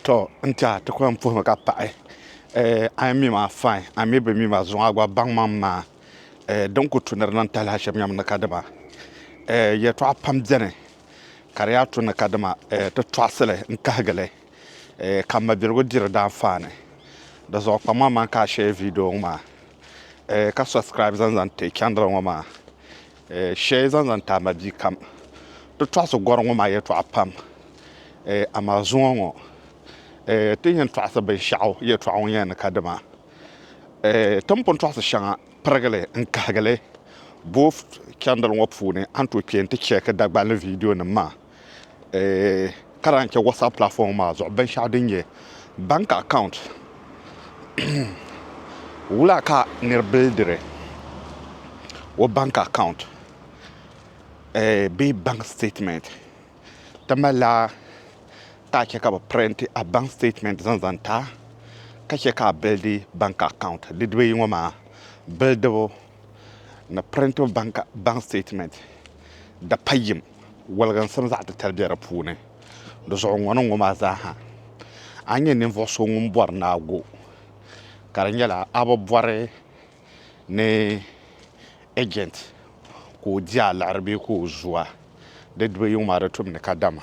To n tɛha ti kuli yɛn puhimi ka paɣi a yi mi ma fain a mi bi mi ma zuŋɔ a gba baŋ maŋ maa din ku tu ni di niŋ talahi shɛm nyam ni kadama yɛltɔɣa pam bɛni ka di yaa tu ni kadama ti tɔɣisili n kahigili ka mabiligu diri daanfaani di zuɣu kpaŋ maŋmaŋ ka a shɛɛ viideo ŋɔ maa ka subscribe zaŋ zaŋ ti channel ŋɔ maa Shɛli zaŋ zaŋ taai ma bia kam Ti tɔɣisi gɔri ŋɔ maa yɛtɔɣa pam amaa zuŋɔ ŋɔ ti ni yɛn tɔɣisi binshɛɣu yɛtɔɣa ŋɔ nyɛla ni ka dima ti ni pun tɔɣisi shɛŋa pirigili n-kahigi li boofu chandili ŋɔ puuni a ni tooi kpɛ nti chɛki Dagbani viidionima maa. ka lahi chɛ whatsapp platform maa zuɣu binshɛɣu din nyɛ bank account wula ka niri bildiri o bank account bee bank statement ti malila ka chɛ ka bi pirinti a bank statement zaŋ zaŋ ti a ka chɛ ka a bilidi bank account didib ayi ŋɔ maa bildibu ni Printable Bank Statement di pa yim woliginsim zaɣ titali bɛ di puuni di zuɣu ŋɔ ni ŋɔ maa zaa ha a ni nyɛ ninvuɣu so ŋun bɔri naagu ka di nyɛla a bi bɔri ni agent ka o di a liɣiri bee ka o zu a di dubu yiŋ maa di tumdi kadama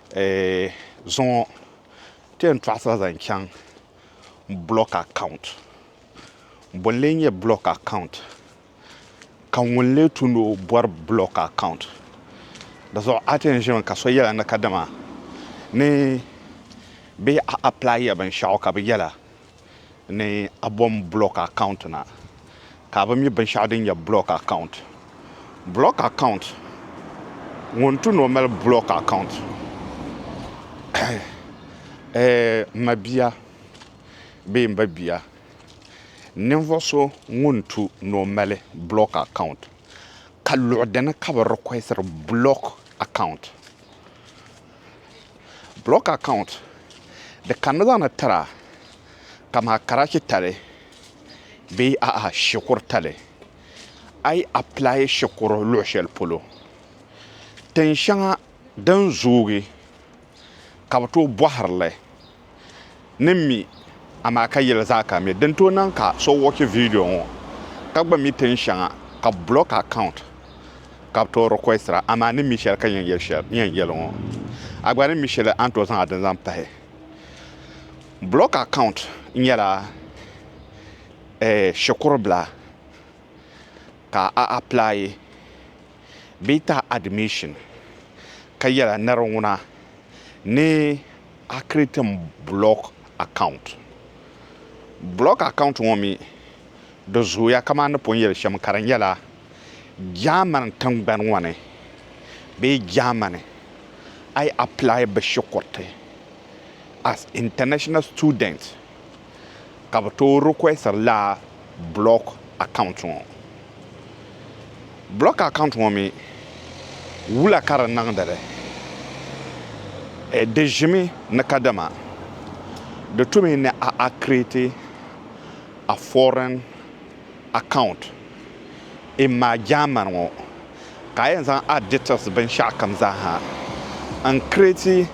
zuŋɔ ti yɛn tɔɣisira zaŋ chaŋ block account bɔn lee nyɛ block account ka ŋuni lee tu ni o bɔri block account di zuɣu a ti yɛn zimi ka so yɛla ni kadama ni bɛ apply ya binshɛɣu ka bi yɛla ni a bom block account na ka a bi mi binshɛɣu din nyɛ block account block account ŋun tu ni o mali block account n ma bia bee n ba bia ninvuɣ so ŋun tu ni o mali block account ka luɣ dini ka bi requestiri block account Block account di kanimi zaŋ na tira kamani karachi tali bee a'a shikuru tali a yi apply shikuru luɣi shɛli polo tin shɛŋa din zoogi ka bi tooi bɔhiri li ni mi, amaa ka yɛli zaa ka mi. Din tooi niŋ ka so wɔchi vidiyo ŋɔ ka gba mi tin shɛŋa, ka bɛ block account ka bɛ tooi requestira, amaa ni mi shɛli ka yɛn yɛli ŋɔ, a gba ni mi shɛli a ni tooi zaŋ a dini zaŋ pahi. Block account nyɛla shikuru bila ka a apply bee tahi admission ka yɛla niriŋuna ni. A create mi block account. Block account ŋɔ mi di zooya kamani ni pun yeli shem ka di nyela Germany tingbani ŋɔ ni bee Germany a yi apply bi shikuriti as international student ka bɛ tooi requestiri lala block account ŋɔ. Block account ŋɔ mi wula ka di niŋdi li? Di ʒimi ni kadama di tu mi ni a create a foreign account in ma German ŋɔ ka a yɛn zaŋ a details binshɛɣukam zaa ha n create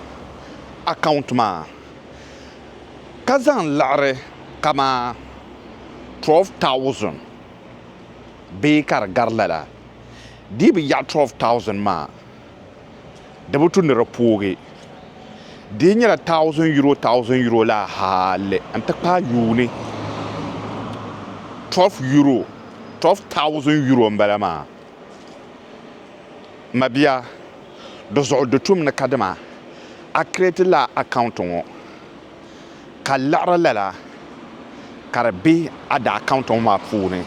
account maa. ka zaŋ liɣiri kamani 12,000 bee ka di gari lala dii bi yaɣi 12,000 maa di bi tu ni di poogi dii nyɛla thousand euro thousand euro la hali n ti paai yuuni 12 euro 12,000 euro m bala maa mabiya Di zuɣu di tum ni kadama a create lala account ŋɔ ka liɣiri lala ka di be a da account ŋɔ maa puuni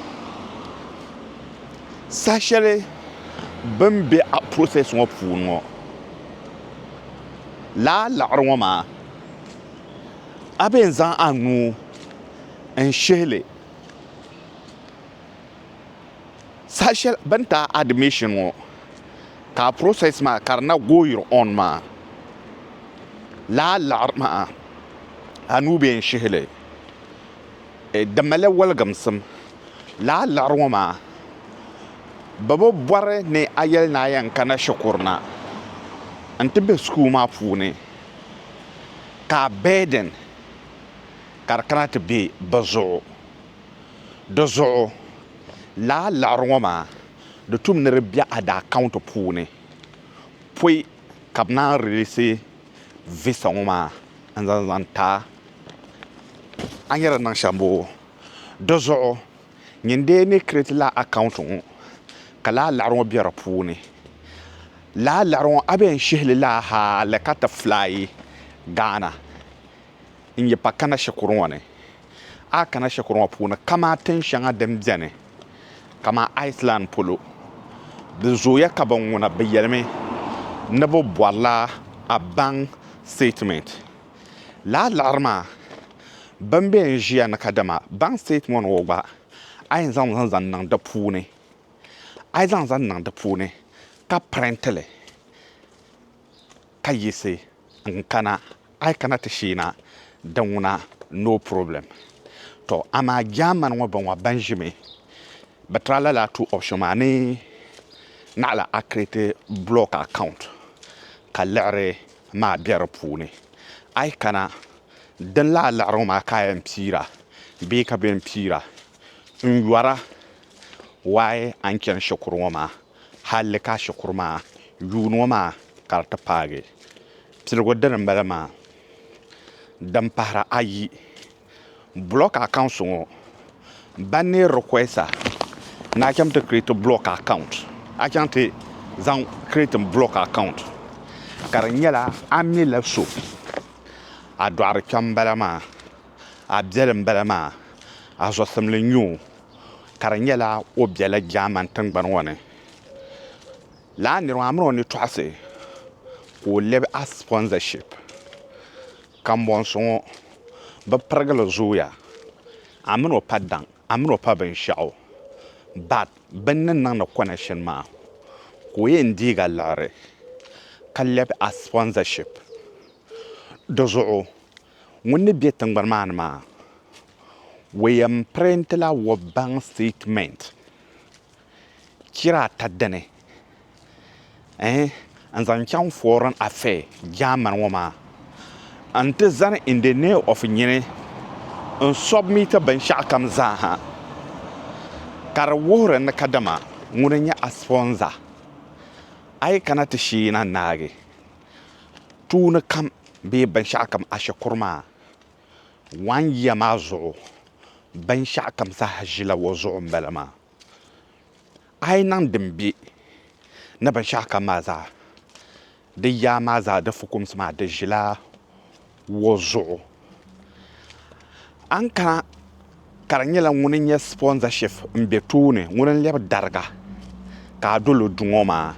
saha shɛli bini be a process ŋɔ puuni ŋɔ lala liɣiri ŋɔ maa a bɛ yɛn zaŋ a nuu n shihili saha shɛli bini ti a admission ŋɔ. Ka a process maa ka di na goyiri on maa laa laɣiri maa a nuu bee n shihi li e di mali la waligimsim laa laɣiri ŋɔ maa bɛ bi bɔri ni a yɛli ni a yɛn kana shikuru na n ti be school maa puuni ka a burden ka di kana ti be bɛ zuɣu di zuɣu laa laɣiri ŋɔ maa. Di tum ni di be a daa kaunti puuni pɔi ka bɛ naan rilisi visa ŋɔ maa n zaŋ zaŋ ti a. A nyɛ din niŋ shɛm boo? Di zuɣu nyin dee ni create lala a kaunti ŋɔ ka lala liɣiri ŋɔ be di puuni lala liɣiri ŋɔ a be yɛn shihi li lala hali ka ti fly Ghana n yi pa kana shikuru ŋɔ ni. A kana shikuru ŋɔ puuni kamaa tin shɛŋa din beni kamaa Iceland polo, di zooya ka binŋuna bɛ yelimi ni bɛ bɔrila a baŋ statement. Lala liɣiri maa bɛn be n ʒiya ni ka dama baŋ statement ŋɔ gba a yɛn zaŋ mi zaŋ niŋ di puuni, a yi zaŋ zaŋ niŋ di puuni ka printili ka yiɣisi n kana a yi kana ti sheei na di ŋuna no problem to amaa German ŋɔ bɔŋɔ ban ʒimi bi try lala two option maa ni naɣila a create blog account ka liɣiri maa bɛ di puuni a yi kana din laa liɣiri ŋɔ maa ka a yɛn piira bee ka bɛ yɛn piira n yɔra why a ni chani shikuru ŋɔ maa Halli ka shikuru maa yuuni ŋɔ maa ka di ti paagi piligu dini m-bala maa din pahiri ayi. Bulɔk akaunsi ŋɔ ba ni rikuɛsa ni a chaŋ ti kiriti bulɔk akaunt a chaŋ ti zaŋ kiriti bulɔk akaunt ka di nyɛla a mi la so a dɔɣiri kpɛm m-bala maa a biɛli m-bala maa a zɔsimli n-nyɛ o. ka di nyɛla o biɛla German tingbani ŋɔ ni. Lala nira maa mini o ni tɔɣisi ka o lɛbi a sponsorship. Kambɔnsi ŋɔ bɛ pirigili zooya a min o pa daŋ a min o pa binshɛɣu but bɛ ni niŋdi connection maa ka o yɛn deeg a liɣiri ka lɛbi a sponsorship di zuɣu. ŋun ni be tingbani maa ni maa, o yɛn printila World Bank statement chira ata dini n zaŋ chaŋ foreign affair German ŋɔ maa n ti zani in the name of nyini n submit binshɛɣu kam zaa ha ka di wuhiri ni kadama ŋuni n-nyɛ a sponsor, a yi kana ti sheei na n-naagi. tuuni kam bee binshɛɣu kam ashikuru maa waan yiya maa zuɣu binshɛɣu kam zaa ʒila o zuɣu n bala maa a yi niŋ din bɛ ni binshɛɣu kam maa zaa di yaa maa zaa di fukumsi maa di ʒila ŋɔ zuɣu a ni kana ka di nyɛla ŋuni n nyɛ sipɔnzaship n bɛ tooni ŋuni n lɛbi dariga ka a dolo du ŋɔ maa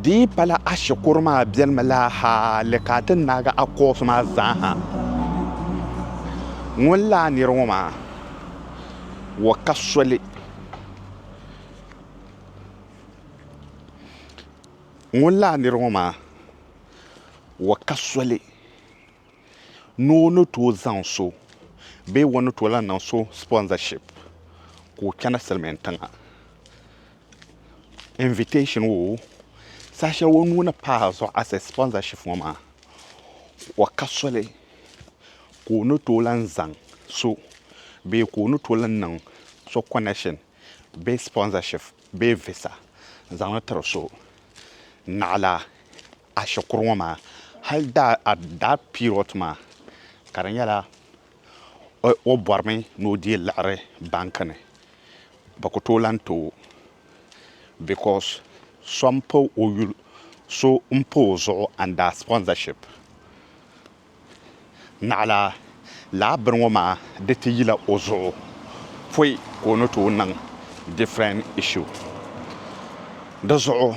di yi pala a shikuru maa bɛni mi la haali ka a ti naagi a kɔɔsi maa zaa ha ŋuni laa niri ŋɔ maa o ka soli ŋuni laa niri ŋɔ maa. wa ka soli ni o ni tooi zaŋ so bee o ni tooi lahi niŋ so sponsorship ka o chana silimiin tiŋa invitation woo saha shɛli o nuu ni paai azuɣu as a sponsorship ŋɔ maa wa ka soli ka o ni tooi lahi zaŋ so bee ka o ni tooi lahi niŋ so connection bee sponsorship bee visa n zaŋli tiri so naɣila ashikuru ŋɔ maa hali daa period maa ka di nyɛla o borimi ni o dii liɣiri bank ni bɛ ku tooi lahi too because so m pa o zuɣu under sponsorship. Naɣila laa bini ŋɔ maa di ti yila o zuɣu pɔi ka o ni tooi niŋ different issue. Di zuɣu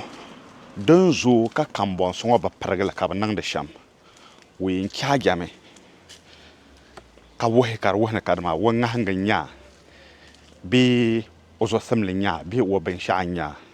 din zooi ka kambɔnsi ŋɔ bi pirigi li ka bi niŋdi shɛm o yɛn charge mi ka wuhi ka di wuhi ni kadama o ŋahingi n-nya bee o zuɣusimli n-nya bee o binshɛɣu n-nya.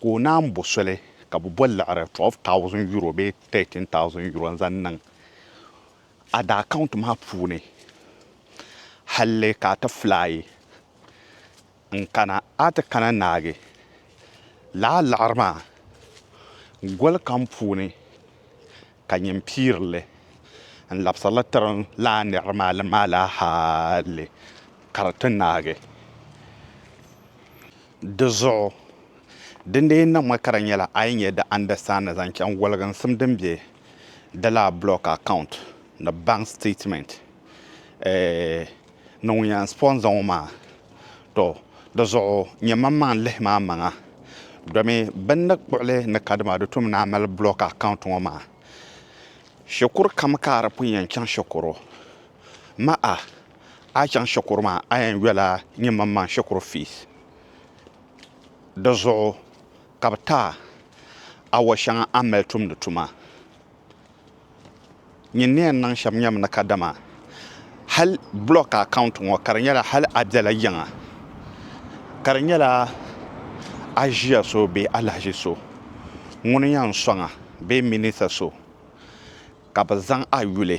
ka o naan bo soli ka bɛ bo liɣiri 12,000 euro bee 13,000 euro n-zaŋ niŋ a da account maa puuni halli ka a ti fly n-kana a ti kana naagi lala liɣiri maa goli kam puuni Ka nyin piiri li n labisiri li tiri n laa nir maali maala hali ka di ti naagi. Di zuɣu di ni lee niŋmi ka di nyɛla a yi nya di understand ni zaŋ chaŋ woliginsim din be di laa block account ni bank statement eh, Ni ŋun yɛn spɔn zaŋ o maa, tɔ! Di zuɣu nyɛ maŋmaŋ lihi ma amaŋa, domi bini ni kpuɣili ni kadama di tum ni a mali block account ŋɔ maa shikuru kam ka a di pun yɛn chaŋ shikuru ma a a chaŋ shikuru maa a yɛn yɔla nyɛ maŋmaŋ shikuru fees di zuɣu ka bi ti a awɔ shɛŋa a ni mali tumdi tuma. Nyin ni yɛn niŋ shɛm nyɛmi ni kadama hal block account ŋɔ ka di nyɛla hal a biɛla yiŋa ka di nyɛla a ʒiya so bee alahaji so ŋuni yɛn sɔŋ a bee minister so ka bɛ zaŋ a yuli.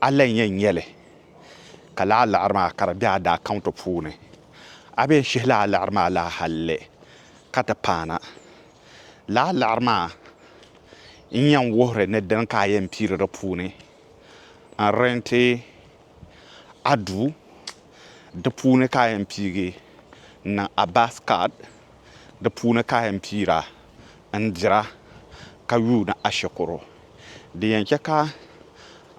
A lan yɛn nya li ka laa liɣiri maa ka di be a daa kaunti puuni. A be shihi laa liɣiri maa laa halli ka ti paana. Laa liɣiri maa n-yɛn wuhiri ni dini ka a yɛn piiri di puuni n-renti a duu. Di puuni ka a yɛn piigi n-niŋ a bus card. Di puuni ka a yɛn piira n-dira ka yuuni a shikuru. Di yɛn chɛ ka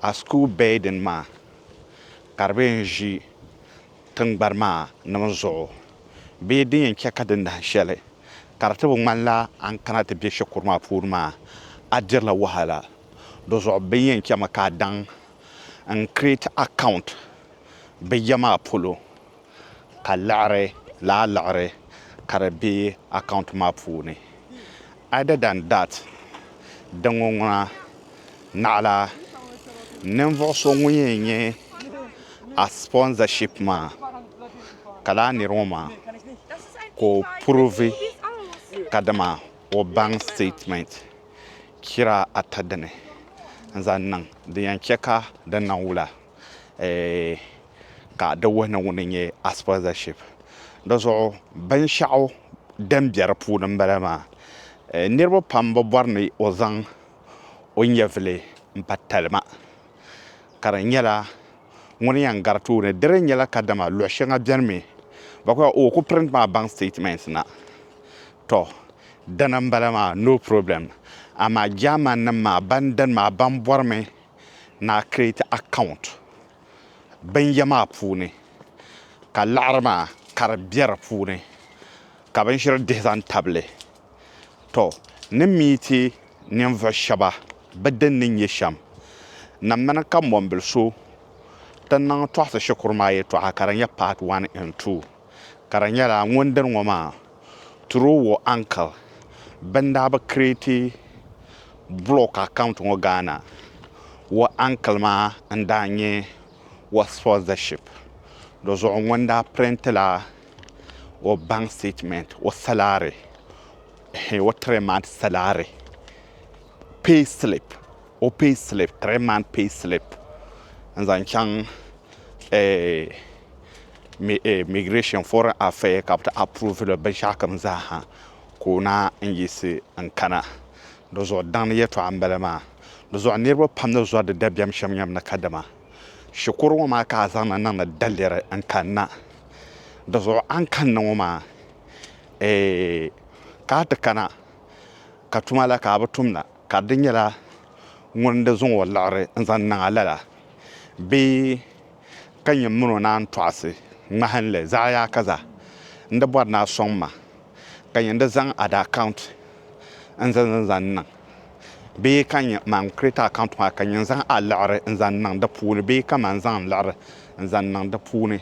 a school building maa ka di bɛ yɛn ʒi tingbani maa nim zuɣu bee din yɛn chɛ ka di nahi shɛli ka di ti bi ŋmanila a ni kana ti bɛ shikuru maa puuni maa a dirila wahala. Di zuɣu bɛ ni yɛn chɛmi ka a daŋ n create account bɛ ya maa polo. ka liɣiri lala liɣiri ka di be account maa puuni. Other than that, di ŋɔ ŋuna naɣila ninvuɣu so ŋun yɛn nyɛ a sponsorship maa ka lala niri ŋɔ maa ka o provi ka dama o bank statement chira ata dini n-zaŋ niŋ din yɛn che ka di niŋ wula. ka di wuhi ni ŋuni n-nyɛ Aspergership di zuɣu binshɛɣu din be di puuni m-bala maa niriba pam bi bɔri ni o zaŋ o nyɛvili m-pa talima ka di nyɛla ŋuni yɛn gari tooni di dii nyɛla kadama luɣ shɛŋa beni mi bɛ kul yɛli o ku print mi a baŋ statement na tɔ dina m-bala maa no problem amaa Germannim maa ban dini maa ban bɔrimi ni a create account binyɛ maa puuni ka laɣiri maa ka di bɛ di puuni ka binshɛli dihi zaŋ tabili tɔ ni miiti ninvuɣ shɛba bɛ din ni nyɛ shɛm na mini ka mɔmbili so ti niŋ Tɔɣisi Shikuru maa yɛtɔɣa ka di nyɛ part one and two. ka di nyɛla ŋun dini ŋɔ maa through o uncle bɛn daa bi create blog account ŋɔ Ghana o uncle maa n daa nyɛ o sponsorship di zuɣu ŋun daa print la o bank statement o salary o three month salary pay slip. o pay slip three month pay slip n zaŋ chaŋ migration foreign affair ka bi ti approve li binshɛɣu kam zaaha ka o na n yiɣisi n kana di zuɣu daŋ ni yɛtɔɣa n bala maa di zuɣu niriba pam ni zɔri di dabiɛm shɛm yɛm ni kadama shikuru ŋɔ maa ka a zaŋ na niŋdi daliri n kanna di zuɣu a ni kanni ŋɔ maa ka a ti kana ka tuma la ka a bi tumda Ka di nyɛla ŋun di zuŋ o liɣiri n-zaŋ niŋ a lala bee ka nyɛ min o naan tɔɣisi ŋmahinli zaɣiyaakaza? N di bɔri ni a sɔŋ ma ka nyɛ n di zaŋ ada account n-zan n zaŋ niŋ bee ka nyɛ man create account maa ka nyɛ n zaŋ a liɣiri n-zaŋ niŋ di puuni bee ka man zaŋ n liɣiri n-zaŋ niŋ di puuni?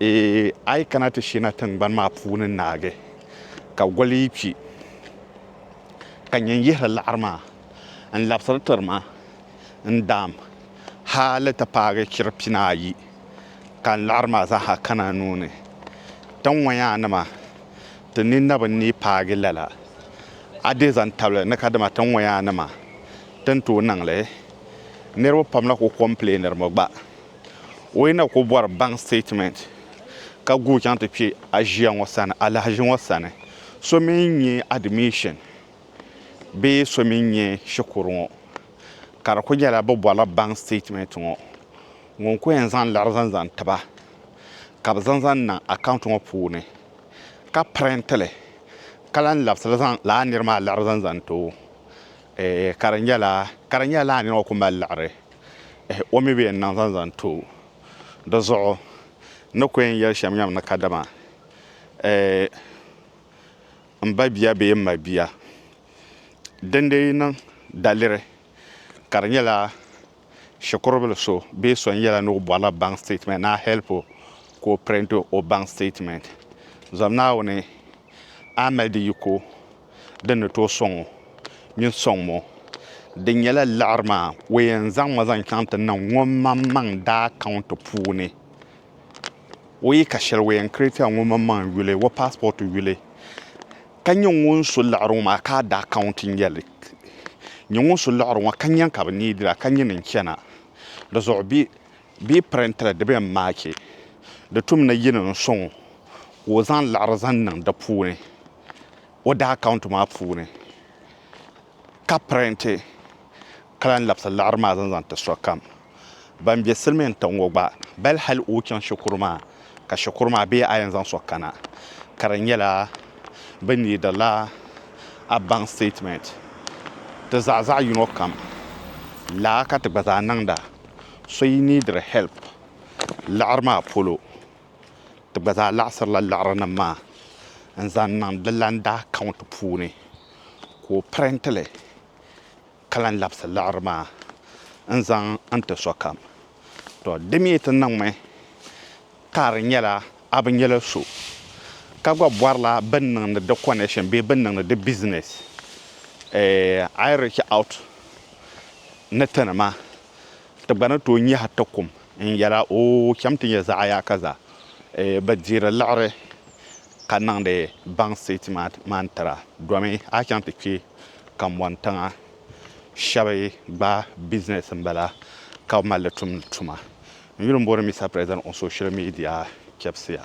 Eeh, a yi kana ti sheena tiŋgbani maa puuni naagi ka goli yi kpi. ka nya n-yihiri laɣiri maa n-labisiri tiri ma n-daam hali ti paagi chir pinaayi ka n laɣiri maa zaa ha kana n nuu ni. Ti ŋɔyaanima, ti ni na bi ni paagi lala, a dii zaŋ tabili ni kadama ti ŋɔyaanima ti ni tooi niŋ li. Niriba pam la ku kɔmpileeŋiri mi gba. O yi na ku bɔri bank statement ka guui chaŋ ti kpe a ʒiya ŋɔ sani alahaʒi ŋɔ sani, so mi n-nyɛ admission bee so mi n-nyɛ shikuru ŋɔ, ka di ku nyɛla bɛ bɔrila bank statement ŋɔ, ŋun ku yɛn zaŋ liɣiri zaŋ zaŋ ti ba ka bɛ zaŋ zaŋ niŋ account ŋɔ puuni ka print li ka lahi labisi li zaŋ lala niri maa liɣiri zaŋ zaŋ ti o. Eh, ka di nyɛla, ka di nyɛla lala nira ŋɔ ku mali liɣiri. Eh, o mi bi yɛn niŋ zaŋ zaŋ ti o. Di zuɣu n ni ku yɛn yɛli shɛm nyam ni kadama eh, m ba bia bee m ma bia, dindee yi niŋ daliri ka di nyɛla, Shikurubil so bee so n yɛla ni o bɔrila baŋ siteetimɛnt ni a hɛlp o ka o pirinti o baŋ siteetimɛnt, zom Naawuni a ni mali di yiko din ni tooi sɔŋ o mini sɔŋm o. Di nyɛla liɣiri maa o yɛn zaŋ ma zaŋ chaŋ ti niŋ ŋumaŋmaŋ daa kaunti puuni. O yi ka shɛli o yɛn kireetila ŋumaŋmaŋ yuli, o paasipɔti yuli. Ka nyɛ ŋun so liɣiri ŋɔ maa ka a daa ka ŋun ti nya li. Nyɛ ŋun so liɣiri ŋɔ ka nya ka bɛ neei dira ka nyini n-chana. Di zuɣu bɛ yi pirintili di bɛn maaki di tum ni yini n-sɔŋ o ka o zaŋ liɣiri zaŋ niŋ di puuni o daa akaunti maa puuni ka pirinti ka lan labisi laɣiri maa zaŋ zaŋ ti sokam ban be silimiin tiŋ ŋɔ gba bal hal o chaŋ shikuru maa ka shikuru maa bee a yɛn zaŋ so kana ka di nyɛla bɛ needila a bank statement ti zaɣ zaɣ yino kam laa ka ti gba zaa niŋda so yi neediri help laɣiri maa polo ti gba zaa laɣisirila laɣirinim maa n zaŋ niŋ di lan daa count puuni ka o printili ka lan labisi liɣiri maa n-zaŋ n-ti sokam. Tɔ! Di mi ti niŋmi ka di nyɛla a bi nyɛla so ka gba bɔrila bɛ ni niŋdi di connection bee bɛ ni niŋdi di business, a yi reach out ni ti ni maa, ti gba ni tooi nyahi ti kum n-yɛl a, Oo, cham ti nyɛ zaɣ yaakaza, bɛ deeri liɣiri ka niŋdi baŋsi ti maan tira domi a chaŋ ti kpe kambɔŋ tiŋa shɛbi gba business n bala ka bi malli tumdi tuma n yuli n bori Mister President on social media chɛbisiya.